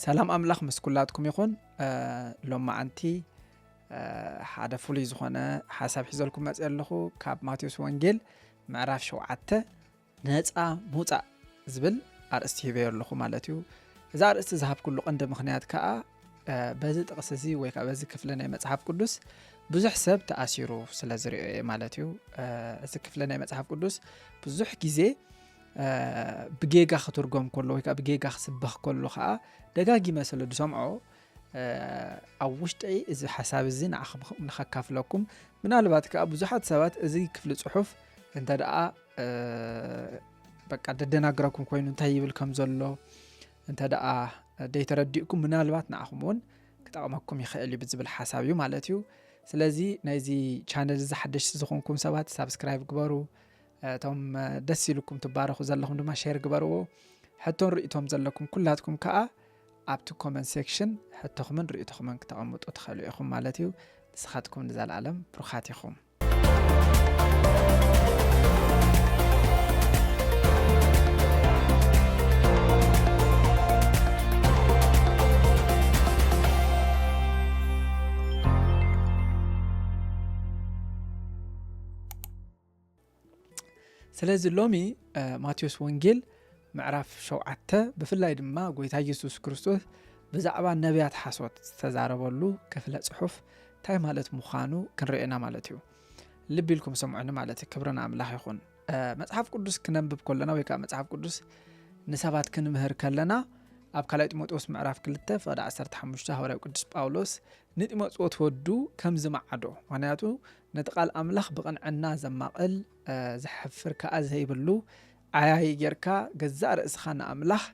ሰላም ኣምላኽ ምስ ኩላትኩም ይኹን ሎማዓንቲ ሓደ ፍሉይ ዝኾነ ሓሳብ ሒዘልኩም መፅ ኣለኹ ካብ ማቴዎስ ወንጌል ምዕራፍ ሸውዓተ ነፃ ምውፃእ ዝብል ኣርእስቲ ሂበዮ ኣለኹ ማለት እዩ እዚ ኣርእስቲ ዝሃብኩሉ ቀንዲ ምክንያት ከዓ በዚ ጥቕሲ እዚ ወይ ከዓ በዚ ክፍሊ ናይ መፅሓፍ ቅዱስ ብዙሕ ሰብ ተኣሲሩ ስለ ዝርኦ እየ ማለት እዩ እዚ ክፍሊ ናይ መፅሓፍ ቅዱስ ብዙሕ ግዜ ብጌጋ ክትርጎም ከሎ ወይ ከዓ ብጌጋ ክስበኽ ከሎ ከዓ ደጋጊመ ስለ ዝሰምዖ ኣብ ውሽጠይ እዚ ሓሳብ እዚ ንኸካፍለኩም ምናልባት ከዓ ብዙሓት ሰባት እዚ ክፍሊ ፅሑፍ እንተ ደኣ በቃ ደደናግረኩም ኮይኑ እንታይ ይብል ከም ዘሎ እንተ ደኣ ደይተረዲእኩም ምናልባት ንዓኹም እውን ክጠቕመኩም ይኽእል እዩ ብዝብል ሓሳብ እዩ ማለት እዩ ስለዚ ናይዚ ቻነል እዚ ሓደሽቲ ዝኾንኩም ሰባት ሳብስክራይብ ግበሩ እቶም ደስ ኢሉኩም ትባረኹ ዘለኹም ድማ ሼር ግበርዎ ሕቶን ርእቶም ዘለኩም ኩላትኩም ከዓ ኣብቲ ኮመንት ሴክሽን ሕቶኹምን ርእቶኹምን ክተቐምጡ ትኽእሉ ኢኹም ማለት እዩ ንስኻትኩም ንዘለኣለም ብሩኻት ኢኹም ስለዚ ሎሚ ማቴዎስ ወንጌል ምዕራፍ ሸውዓተ ብፍላይ ድማ ጎይታ ኢየሱስ ክርስቶስ ብዛዕባ ነቢያት ሓሶት ዝተዛረበሉ ክፍለ ጽሑፍ እንታይ ማለት ምዃኑ ክንርእና ማለት እዩ ልቢ ኢልኩም ሰምዑኒ ማለት እዩ ክብርን ኣምላኽ ይኹን መጽሓፍ ቅዱስ ክነንብብ ከለና ወይ ከዓ መጽሓፍ ቅዱስ ንሰባት ክንምህር ከለና ኣብ ካልኣይ ጢሞቴዎስ ምዕራፍ 2 ፍቕዲ 15 ሃዋርያዊ ቅዱስ ጳውሎስ ንጢሞቴዎስ ወዱ ከም ዝመዓዶ ምክንያቱ ነቲ ቃል ኣምላኽ ብቕንዕና ዘማቕል ዘሕፍር ከኣ ዘይብሉ ዓያዪ ጌርካ ገዛእ ርእስኻ ንኣምላኽ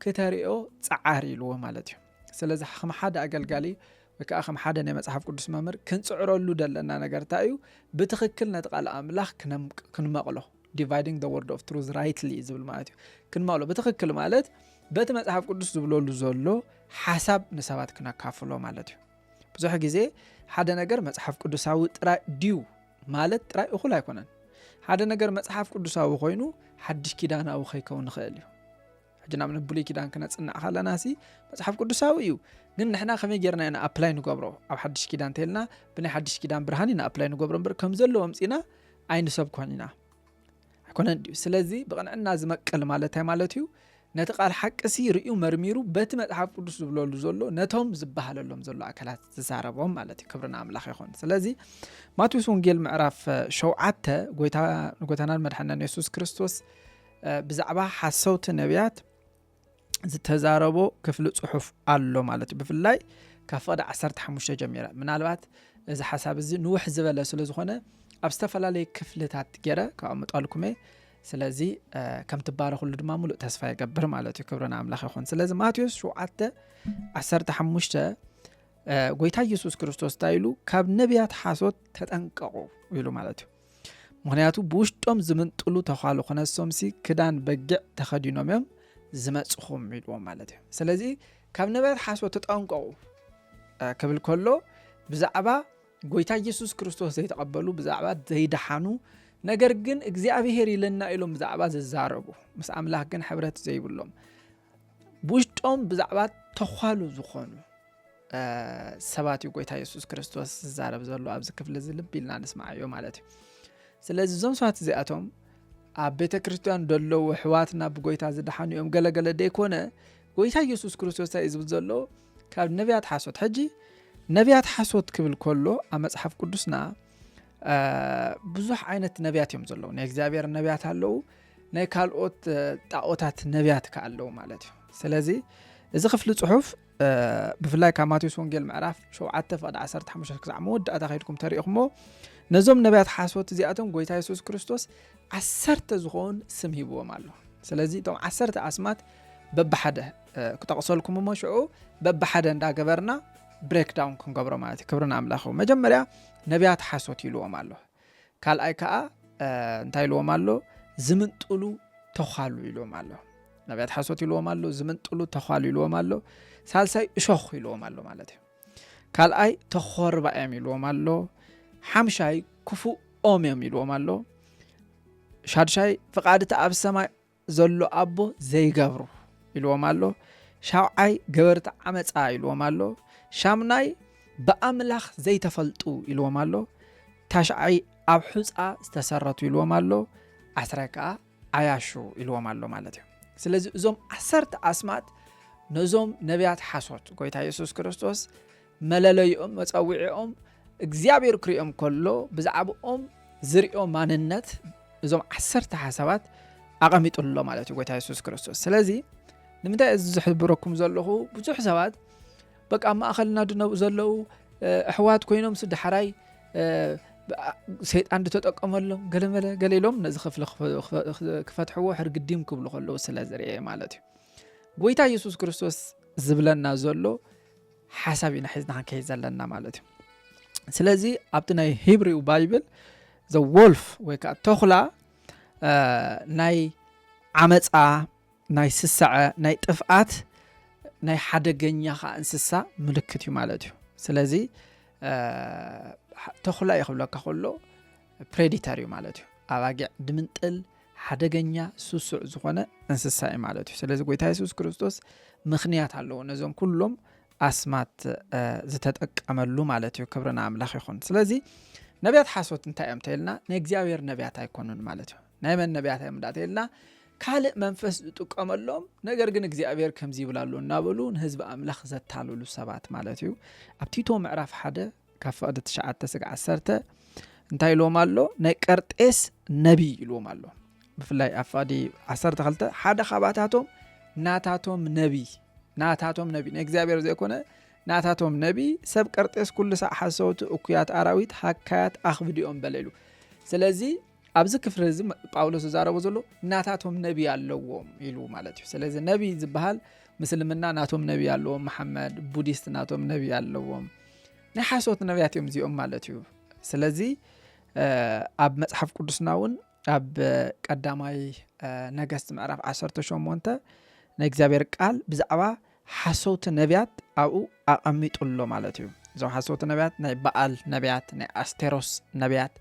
ክተርእዮ ጸዓር ኢልዎ ማለት እዩ። ስለዚ ከም ሓደ ኣገልጋሊ ወይ ከዓ ከም ሓደ ናይ መጽሓፍ ቅዱስ መምህር ክንጽዕረሉ ዘለና ነገር እንታይ እዩ? ብትኽክል ነቲ ቃል ኣምላኽ ክንመቕሎ ዲቫይዲንግ ዘ ወርድ ኦፍ ትሩዝ ራይትሊ ዝብል ማለት እዩ ክንመቕሎ ብትኽክል ማለት በቲ መጽሓፍ ቅዱስ ዝብለሉ ዘሎ ሓሳብ ንሰባት ክነካፍሎ ማለት እዩ። ብዙሕ ግዜ ሓደ ነገር መጽሓፍ ቅዱሳዊ ጥራይ ድዩ ማለት ጥራይ እኹል ኣይኮነን ሓደ ነገር መጽሓፍ ቅዱሳዊ ኮይኑ ሓድሽ ኪዳናዊ ከይከውን ንኽእል እዩ ሕጂ ናብ ንብሉይ ኪዳን ክነፅናዕ ከለና ሲ መፅሓፍ ቅዱሳዊ እዩ ግን ንሕና ከመይ ጌርና ኢና ኣፕላይ ንገብሮ ኣብ ሓድሽ ኪዳን እንተልና ብናይ ሓድሽ ኪዳን ብርሃን ኢና ኣፕላይ ንገብሮ እምበር ከም ዘለዎ ምፅና ኣይንሰብኮን ኢና ኣይኮነን ድዩ? ስለዚ ብቕንዕና ዝመቅል ማለት እንታይ ማለት እዩ? ነቲ ቃል ሓቂ ሲ ርእዩ መርሚሩ በቲ መጽሓፍ ቅዱስ ዝብለሉ ዘሎ ነቶም ዝበሃለሎም ዘሎ ኣካላት ዝዛረቦም ማለት እዩ። ክብርና ኣምላኽ ይኹን። ስለዚ ማቴዎስ ወንጌል ምዕራፍ ሸውዓተ ጎይታ ንጎይታናን መድሓናን የሱስ ክርስቶስ ብዛዕባ ሓሰውቲ ነቢያት ዝተዛረቦ ክፍሊ ፅሑፍ ኣሎ ማለት እዩ ብፍላይ ካብ ፍቕዲ 15 ጀሚረ ምናልባት እዚ ሓሳብ እዚ ንውሕ ዝበለ ስለ ዝኾነ ኣብ ዝተፈላለዩ ክፍልታት ገይረ ካቐምጠልኩመ ስለዚ ከምትባረክሉ ድማ ሙሉእ ተስፋ ይገብር ማለት እዩ ክብረና ኣምላኽ ይኹን ስለዚ ማቴዎስ 7 15 ጎይታ ኢየሱስ ክርስቶስ እንታይ ኢሉ ካብ ነቢያት ሓሶት ተጠንቀቑ ኢሉ ማለት እዩ ምክንያቱ ብውሽጦም ዝምንጥሉ ተዃሉ ክነሶምሲ ክዳን በጊዕ ተኸዲኖም እዮም ዝመፅኹም ኢልዎም ማለት እዩ ስለዚ ካብ ነበያት ሓሶ ተጠንቀቑ ክብል ከሎ ብዛዕባ ጎይታ ኢየሱስ ክርስቶስ ዘይተቐበሉ ብዛዕባ ዘይደሓኑ ነገር ግን እግዚኣብሄር ኢለና ኢሎም ብዛዕባ ዝዛረቡ ምስ ኣምላኽ ግን ሕብረት ዘይብሎም ብውሽጦም ብዛዕባ ተዃሉ ዝኾኑ ሰባት እዩ ጎይታ የሱስ ክርስቶስ ዝዛረብ ዘሎ ኣብዚ ክፍሊ እዚ ልቢ ኢልና ንስማዓዮ ማለት እዩ ስለዚ እዞም ሰባት እዚኣቶም ኣብ ቤተ ክርስትያን ዘለዉ ኣሕዋትና ብጎይታ ዝደሓኑ እዮም ገለገለ ደይኮነ ጎይታ የሱስ ክርስቶስ እንታይ እዩ ዝብል ዘሎ ካብ ነቢያት ሓሶት ሕጂ ነቢያት ሓሶት ክብል ከሎ ኣብ መፅሓፍ ቅዱስና ብዙሕ ዓይነት ነቢያት እዮም ዘለዉ ናይ እግዚኣብሔር ነቢያት ኣለዉ ናይ ካልኦት ጣኦታት ነቢያት ከ ኣለዉ ማለት እዩ ስለዚ እዚ ክፍሊ ፅሑፍ ብፍላይ ካብ ማቴዎስ ወንጌል ምዕራፍ 7 ፍቅዲ 15 ክሳዕ መወዳእታ ከይድኩም ተሪኢኹሞ ነዞም ነቢያት ሓሶት እዚኣቶም ጎይታ የሱስ ክርስቶስ ዓሰርተ ዝኾን ስም ሂብዎም ኣሎ ስለዚ እቶም ዓሰርተ ኣስማት በብሓደ ክጠቕሰልኩም እሞ ሽዑ በብሓደ እንዳገበርና ብሬክዳውን ክንገብሮ ማለት እዩ ክብርን ኣምላኽ መጀመርያ ነቢያት ሓሶት ይልዎም ኣሎ ካልኣይ ከዓ እንታይ ኢልዎም ኣሎ ዝምንጥሉ ተዃሉ ኢልዎም ኣሎ ነቢያት ሓሶት ኢልዎም ኣሎ ዝምንጥሉ ተዃሉ ኢልዎም ኣሎ ሳልሳይ እሾኽ ኢልዎም ኣሎ ማለት እዩ ካልኣይ ተኾርባ እዮም ኢልዎም ኣሎ ሓምሻይ ክፉእ ኦም እዮም ኢልዎም ኣሎ ሻድሻይ ፍቓድቲ ኣብ ሰማይ ዘሎ ኣቦ ዘይገብሩ ኢልዎም ኣሎ ሻውዓይ ገበርቲ ዓመፃ ኢልዎም ኣሎ ሻምናይ ብኣምላኽ ዘይተፈልጡ ኢልዎም ኣሎ ታሽዓይ ኣብ ሑፃ ዝተሰረቱ ኢልዎም ኣሎ ዓስራይ ከዓ ዓያሹ ኢልዎም ኣሎ ማለት እዩ ስለዚ እዞም ዓሰርተ ኣስማት ነዞም ነቢያት ሓሶት ጎይታ የሱስ ክርስቶስ መለለይኦም መጸውዒኦም እግዚኣብሔር ክርእዮም ከሎ ብዛዕባኦም ዝርእዮ ማንነት እዞም ዓሰርተ ሓሳባት ኣቐሚጡ ኣሎ ማለት እዩ ጎይታ የሱስ ክርስቶስ ስለዚ ንምንታይ እዚ ዝሕብረኩም ዘለኹ ብዙሕ ሰባት በቃ ኣብ ማእኸልና ድነብኡ ዘለዉ ኣሕዋት ኮይኖም ስዳሓራይ ሰይጣን ድተጠቀመሎም ገለመለ ገለ ኢሎም ነዚ ክፍሊ ክፈትሕዎ ሕርግዲም ክብሉ ከለዉ ስለ ዝርአ ማለት እዩ ጎይታ የሱስ ክርስቶስ ዝብለና ዘሎ ሓሳብ ኢና ሒዝና ክንከይድ ዘለና ማለት እዩ ስለዚ ኣብቲ ናይ ሂብሪው ባይብል ዘ ወልፍ ወይ ከዓ ተኹላ ናይ ዓመፃ ናይ ስሰዐ ናይ ጥፍኣት ናይ ሓደገኛ ከዓ እንስሳ ምልክት እዩ ማለት እዩ ስለዚ ተኹላ እዩ ክብለካ ከሎ ፕሬዲተር እዩ ማለት እዩ ኣባጊዕ ድምንጥል ሓደገኛ ሱሱዕ ዝኾነ እንስሳ እዩ ማለት እዩ ስለዚ ጎይታ የሱስ ክርስቶስ ምክንያት ኣለዎ ነዞም ኩሎም ኣስማት ዝተጠቀመሉ ማለት እዩ ክብርና ኣምላኽ ይኹን ስለዚ ነቢያት ሓሶት እንታይ እዮም ተይልና ናይ እግዚኣብሔር ነቢያት ኣይኮኑን ማለት እዩ ናይ መን ነቢያት እዮም እንዳተይልና ካልእ መንፈስ ዝጥቀመሎም ነገር ግን እግዚኣብሔር ከምዚ ይብላሉ እናበሉ ንህዝቢ ኣምላኽ ዘታልሉ ሰባት ማለት እዩ ኣብ ቲቶ ምዕራፍ ሓደ ካብ ፍቕዲ ትሽዓተ ስግ ዓሰርተ እንታይ ኢልዎም ኣሎ ናይ ቀርጤስ ነቢ ኢልዎም ኣሎ ብፍላይ ኣብ ፍቕዲ ዓሰርተ ክልተ ሓደ ካባታቶም ናታቶም ነቢ ናታቶም ነቢ ናይ እግዚኣብሔር ዘይኮነ ናታቶም ነቢ ሰብ ቀርጤስ ኩሉ ሳዕ ሓሰውቲ እኩያት ኣራዊት ሃካያት ኣኽብዲኦም በለ ኢሉ ስለዚ ኣብዚ ክፍሪ እዚ ጳውሎስ ዝዛረቦ ዘሎ ናታቶም ነቢ ኣለዎም ኢሉ ማለት እዩ ስለዚ ነቢ ዝበሃል ምስልምና ናቶም ነቢ ኣለዎም መሓመድ ቡዲስት ናቶም ነቢ ኣለዎም ናይ ሓሶት ነቢያት እዮም እዚኦም ማለት እዩ ስለዚ ኣብ መፅሓፍ ቅዱስና እውን ኣብ ቀዳማይ ነገስቲ ምዕራፍ 18 ናይ እግዚኣብሔር ቃል ብዛዕባ ሓሰውቲ ነብያት ኣብኡ ኣቐሚጡ ኣሎ ማለት እዩ። እዞም ሓሰውቲ ነብያት ናይ በኣል ነብያት፣ ናይ ኣስቴሮስ ነብያት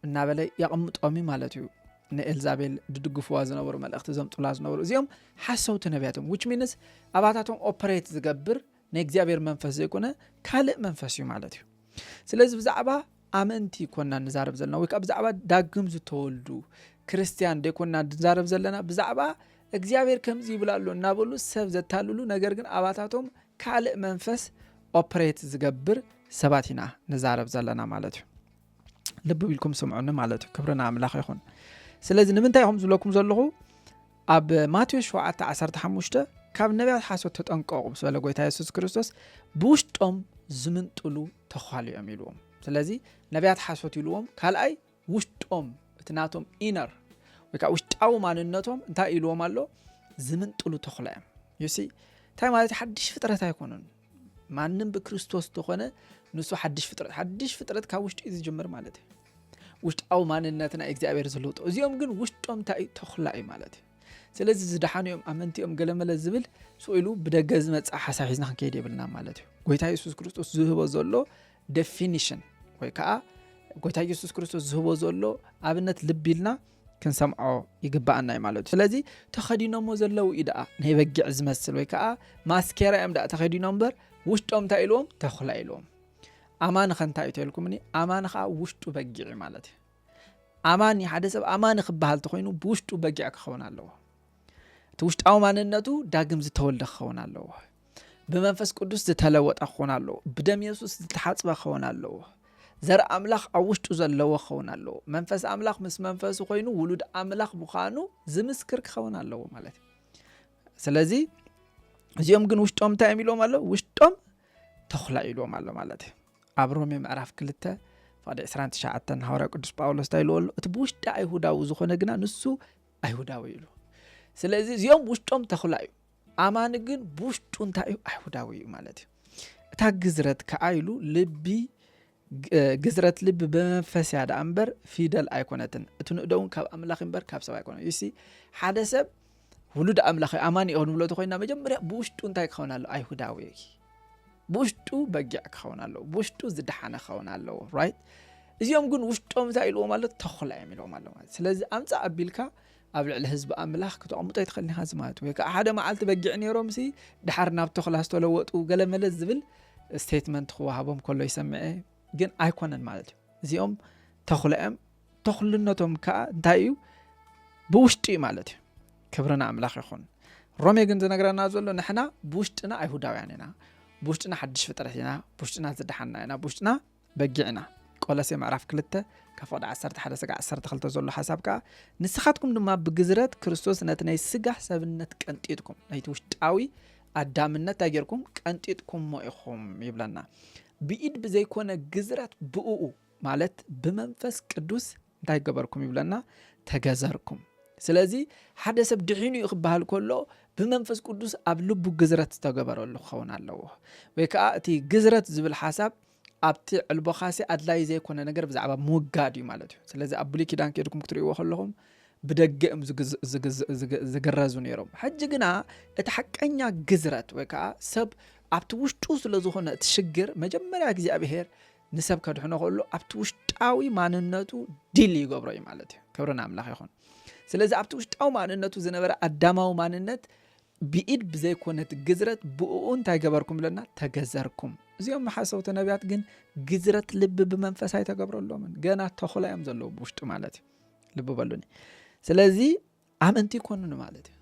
እናበለ የቐምጦም እዩ ማለት እዩ። ንኤልዛቤል ድድግፍዋ ዝነበሩ መልእኽቲ ዘምጡላ ዝነበሩ እዚኦም ሓሰውቲ ነቢያት እዮም ዊች ሚንስ ኣባታቶም ኦፐሬት ዝገብር ናይ እግዚኣብሔር መንፈስ ዘይኮነ ካልእ መንፈስ እዩ ማለት እዩ ስለዚ ብዛዕባ ኣመንቲ ኮና ንዛረብ ዘለና ወይ ከዓ ብዛዕባ ዳግም ዝተወልዱ ክርስትያን ደይኮና ንዛረብ ዘለና ብዛዕባ እግዚኣብሔር ከምዚ ይብላ ኣሎ እናበሉ ሰብ ዘታልሉ ነገር ግን ኣባታቶም ካልእ መንፈስ ኦፕሬት ዝገብር ሰባት ኢና ንዛረብ ዘለና ማለት እዩ ልቢ ኢልኩም ስምዑኒ ማለት እዩ ክብርና ኣምላኽ ይኹን ስለዚ ንምንታይ ኢኹም ዝብለኩም ዘለኹ ኣብ ማቴዎስ ሸውዓተ ዓሰርተ ሓሙሽተ ካብ ነቢያት ሓሶት ተጠንቀቑ ምስ በለ ጎይታ የሱስ ክርስቶስ ብውሽጦም ዝምንጥሉ ተዃሉ እዮም ኢልዎም ስለዚ ነቢያት ሓሶት ኢልዎም ካልኣይ ውሽጦም እቲ ናቶም ኢነር ወይ ከዓ ውሽጣዊ ማንነቶም እንታይ ኢልዎም ኣሎ ዝምንጥሉ ተኽላ እዮም ዩሲ እንታይ ማለት ሓድሽ ፍጥረት ኣይኮኑን ማንም ብክርስቶስ ተኾነ ንሱ ሓድሽ ፍጥረት ሓድሽ ፍጥረት ካብ ውሽጢ እዩ ዝጅምር ማለት እዩ ውሽጣዊ ማንነት ናይ እግዚኣብሔር ዝልውጦ እዚኦም ግን ውሽጦም እንታይ እዩ ተኹላ እዩ ማለት እዩ ስለዚ ዝደሓኑ እዮም ኣመንቲ እዮም ገለመለ ዝብል ስኢሉ ብደገ ዝመፅእ ሓሳብ ሒዝና ክንከይድ የብልና ማለት እዩ ጎይታ የሱስ ክርስቶስ ዝህቦ ዘሎ ደፊኒሽን ወይ ከዓ ጎይታ የሱስ ክርስቶስ ዝህቦ ዘሎ ኣብነት ልቢ ኢልና ክንሰምዖ ይግባኣና እዩ ማለት እዩ ስለዚ ተኸዲኖሞ ዘለው እዩ ደኣ ናይ በጊዕ ዝመስል ወይ ከዓ ማስኬራ እዮም ደኣ ተኸዲኖም እምበር ውሽጦም እንታይ ኢልዎም ተኹላ ኢልዎም ኣማኒ ከ እንታይ እዩ ተልኩምኒ ኣማኒ ከዓ ውሽጡ በጊዕ እዩ ማለት እዩ ኣማኒ ሓደ ሰብ ኣማኒ ክበሃል ተኮይኑ ብውሽጡ በጊዕ ክኸውን ኣለዎ እቲ ውሽጣዊ ማንነቱ ዳግም ዝተወልደ ክኸውን ኣለዎ ብመንፈስ ቅዱስ ዝተለወጠ ክኸውን ኣለዎ ብደም የሱስ ዝተሓፅበ ክኸውን ኣለዎ ዘርኢ ኣምላኽ ኣብ ውሽጡ ዘለዎ ክኸውን ኣለዎ መንፈስ ኣምላኽ ምስ መንፈሱ ኮይኑ ውሉድ ኣምላኽ ምዃኑ ዝምስክር ክኸውን ኣለዎ ማለት እዩ ስለዚ እዚኦም ግን ውሽጦም እንታይ እዮም ኢሎም ኣሎ ውሽጦም ተኹላ ኢልዎም ኣሎ ማለት እዩ ኣብ ሮሜ ምዕራፍ ክልተ ፍቅዲ 29 ሃዋርያ ቅዱስ ጳውሎስ እንታይ ኢልዎ ኣሎ እቲ ብውሽጢ ኣይሁዳዊ ዝኾነ ግና ንሱ ኣይሁዳዊ ኢሉ ስለዚ እዚኦም ውሽጦም ተኽላ እዩ ኣማኒ ግን ብውሽጡ እንታይ እዩ ኣይሁዳዊ እዩ ማለት እዩ እታ ግዝረት ከዓ ኢሉ ልቢ ግዝረት ልቢ ብመንፈስ እያ ደኣ እምበር ፊደል ኣይኮነትን እቲ ንእዶ እውን ካብ ኣምላኽ እምበር ካብ ሰብ ኣይኮነ ዩሲ ሓደ ሰብ ውሉድ ኣምላኽ እዩ ኣማኒ እዩ ክንብሎ ተኮይና መጀመርያ ብውሽጡ እንታይ ክኸውን ኣለዎ ኣይሁዳዊ እዩ ብውሽጡ በጊዕ ክኸውን ኣለዎ ብውሽጡ ዝደሓነ ክኸውን ኣለዎ ራይት እዚኦም ግን ውሽጦም እንታይ ኢልዎም ኣሎ ተኹላ እዮም ኢልዎም ኣሎ ማለት ስለዚ ኣምፃእ ኣቢልካ ኣብ ልዕሊ ህዝቢ ኣምላኽ ክተቕምጦ ኣይትኽእልን ኢኻ እዚ ማለት ወይ ከዓ ሓደ መዓልቲ በጊዕ ነይሮምሲ ድሓር ናብ ተኽላ ዝተለወጡ ገለመለ ዝብል ስቴትመንት ክወሃቦም ከሎ ይሰምዐ ግን ኣይኮነን ማለት እዩ እዚኦም ተኽሎ እዮም ተኽልነቶም ከዓ እንታይ እዩ ብውሽጢ እዩ ማለት እዩ ክብርና ኣምላኽ ይኹን ሮሜ ግን ዝነግረና ዘሎ ንሕና ብውሽጥና ኣይሁዳውያን ኢና ብውሽጥና ሓድሽ ፍጥረት ኢና ብውሽጥና ዝደሓና ኢና ብውሽጥና በጊዕና። ቆለሴ ምዕራፍ ክልተ ካብ ፍቕዲ ዓሰርተ ሓደ ስጋዕ ዓሰርተ ክልተ ዘሎ ሓሳብ ከኣ ንስኻትኩም ድማ ብግዝረት ክርስቶስ ነቲ ናይ ስጋ ሰብነት ቀንጢጥኩም ናይቲ ውሽጣዊ ኣዳምነት እንታይ ጌርኩም ቀንጢጥኩሞ ኢኹም ይብለና። ብኢድ ብዘይኮነ ግዝረት ብእኡ ማለት ብመንፈስ ቅዱስ እንታይ ገበርኩም ይብለና ተገዘርኩም ስለዚ ሓደ ሰብ ድሒኑ እዩ ክበሃል ከሎ ብመንፈስ ቅዱስ ኣብ ልቡ ግዝረት ዝተገበረሉ ክኸውን ኣለዎ ወይ ከዓ እቲ ግዝረት ዝብል ሓሳብ ኣብቲ ዕልቦኻሲ ኣድላይ ዘይኮነ ነገር ብዛዕባ ምውጋድ እዩ ማለት እዩ ስለዚ ኣብ ብሉይ ኪዳን ከድኩም ክትሪእዎ ከለኹም ብደገ እዮም ዝግረዙ ነይሮም ሕጂ ግና እቲ ሓቀኛ ግዝረት ወይ ከዓ ሰብ ኣብቲ ውሽጡ ስለዝኾነ እቲ ሽግር መጀመርያ እግዚኣብሄር ንሰብ ከድሕኖ ከሎ ኣብቲ ውሽጣዊ ማንነቱ ዲል ይገብሮ እዩ ማለት እዩ ክብሪ ንኣምላኽ ይኹን ስለዚ ኣብቲ ውሽጣዊ ማንነቱ ዝነበረ ኣዳማዊ ማንነት ብኢድ ብዘይኮነት ግዝረት ብእኡ እንታይ ገበርኩም ብለና ተገዘርኩም እዚኦም ሓሰውቲ ነቢያት ግን ግዝረት ልቢ ብመንፈስ ኣይተገብረሎምን ገና ተኹላ እዮም ዘለዉ ብውሽጡ ማለት እዩ ልቢ በሉኒ ስለዚ ኣመንቲ ይኮኑን ማለት እዩ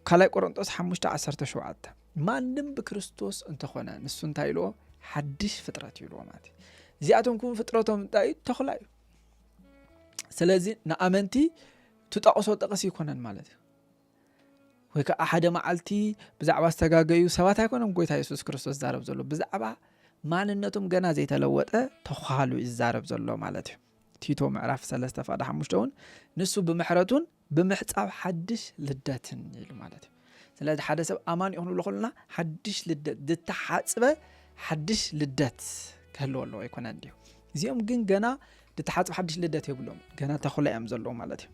ካልይ ቆሮንጦስ ሓሙሽተ ዓሰርተ ሸውዓተ ማንም ብክርስቶስ እንተኾነ ንሱ እንታይ ኢልዎ ሓድሽ ፍጥረት እዩ ኢልዎ ማለት እዚኣቶም ክውን ፍጥረቶም እንታይ እዩ ተኽላ እዩ ስለዚ ንኣመንቲ ትጠቕሶ ጠቕስ ይኮነን ማለት እዩ ወይ ከዓ ሓደ መዓልቲ ብዛዕባ ዝተጋገዩ ሰባት ኣይኮነም ጎይታ የሱስ ክርስቶስ ዛረብ ዘሎ ብዛዕባ ማንነቶም ገና ዘይተለወጠ ተዃሉ ይዛረብ ዘሎ ማለት እዩ ቲቶ ምዕራፍ ሰለስተ ፋዳ ሓሙሽተ እውን ንሱ ብምሕረቱን ብምሕፃብ ሓድሽ ልደትን ኢሉ ማለት እዩ ስለዚ ሓደ ሰብ ኣማን ይኹን ብሎ ከለና ሓድሽ ልደት ዝተሓፅበ ሓድሽ ልደት ክህልዎ ኣለዎ ኣይኮነ እንዲዩ እዚኦም ግን ገና ዝተሓፅበ ሓድሽ ልደት የብሎም ገና ተኽላ እዮም ዘለዉ ማለት እዩ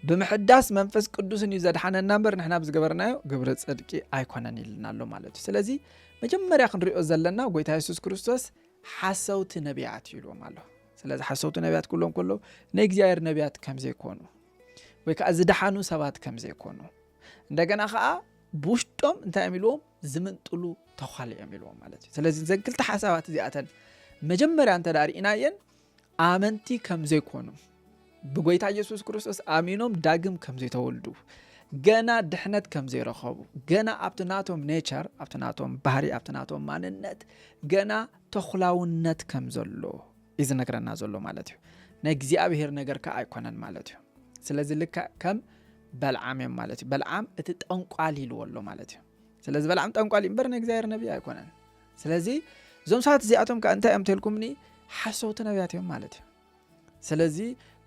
ብምሕዳስ መንፈስ ቅዱስን እዩ ዘድሓነና እምበር ንሕና ብዝገበርናዮ ግብሪ ፅድቂ ኣይኮነን ኢልና ኣሎ ማለት እዩ ስለዚ መጀመርያ ክንሪኦ ዘለና ጎይታ የሱስ ክርስቶስ ሓሰውቲ ነቢያት እዩ ኢልዎም ኣሎ ስለዚ ሓሰውቲ ነቢያት ክብሎም ከለዉ ናይ እግዚኣብሔር ነቢያት ከም ዘይኮኑ ወይ ከዓ ዝደሓኑ ሰባት ከም ዘይኮኑ እንደገና ከዓ ብውሽጦም እንታይ እዮም ኢልዎም ዝምንጥሉ ተዃሊ እዮም ኢልዎም ማለት እዩ ስለዚ ዘን ክልተ ሓሳባት እዚኣተን መጀመርያ እንተ ርእናየን ኣመንቲ ከም ዘይኮኑ ብጎይታ ኢየሱስ ክርስቶስ ኣሚኖም ዳግም ከም ዘይተወልዱ ገና ድሕነት ከም ዘይረኸቡ ገና ኣብቲ ናቶም ኔቸር ኣብቲ ናቶም ባህሪ ኣብቲ ናቶም ማንነት ገና ተኹላውነት ከም ዘሎ እዩ ዝነግረና ዘሎ ማለት እዩ ናይ እግዚኣብሄር ነገር ከዓ ኣይኮነን ማለት እዩ ስለዚ ልካ ከም በልዓም እዮም ማለት እዩ በልዓም እቲ ጠንቋል ኢልዎ ኣሎ ማለት እዩ ስለዚ በልዓም ጠንቋል እዩ እምበር ናይ እግዚኣብሄር ነቢይ ኣይኮነን ስለዚ እዞም ሰባት እዚኣቶም ከ እንታይ እዮም ተልኩምኒ ሓሰውቲ ነብያት እዮም ማለት እዩ ስለዚ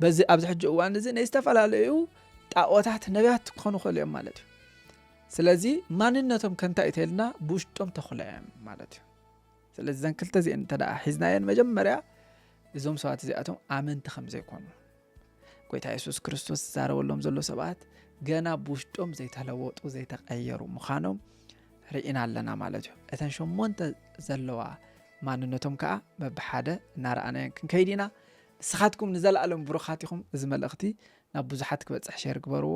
በዚ ኣብዚ ሕጂ እዋን እዚ ናይ ዝተፈላለዩ ጣዖታት ነብያት ክኾኑ ክእሉ እዮም ማለት እዩ ስለዚ ማንነቶም ከንታይ እዩ ተልና ብውሽጦም ተኽሎ እዮም ማለት እዩ ስለዚ ዘን ክልተ እዚአን እንተ ሒዝናየን መጀመርያ እዞም ሰባት እዚኣቶም ኣመንቲ ከም ዘይኮኑ ጎይታ የሱስ ክርስቶስ ዝዛረበሎም ዘሎ ሰባት ገና ብውሽጦም ዘይተለወጡ ዘይተቐየሩ ምዃኖም ርኢና ኣለና ማለት እዩ እተን ሸሞንተ ዘለዋ ማንነቶም ከዓ መብሓደ እናረኣናዮን ክንከይድ ኢና ንስኻትኩም ንዘለኣለም ብሩኻት ኢኹም እዚ መልእኽቲ ናብ ብዙሓት ክበፅሕ ሸር ግበርዎ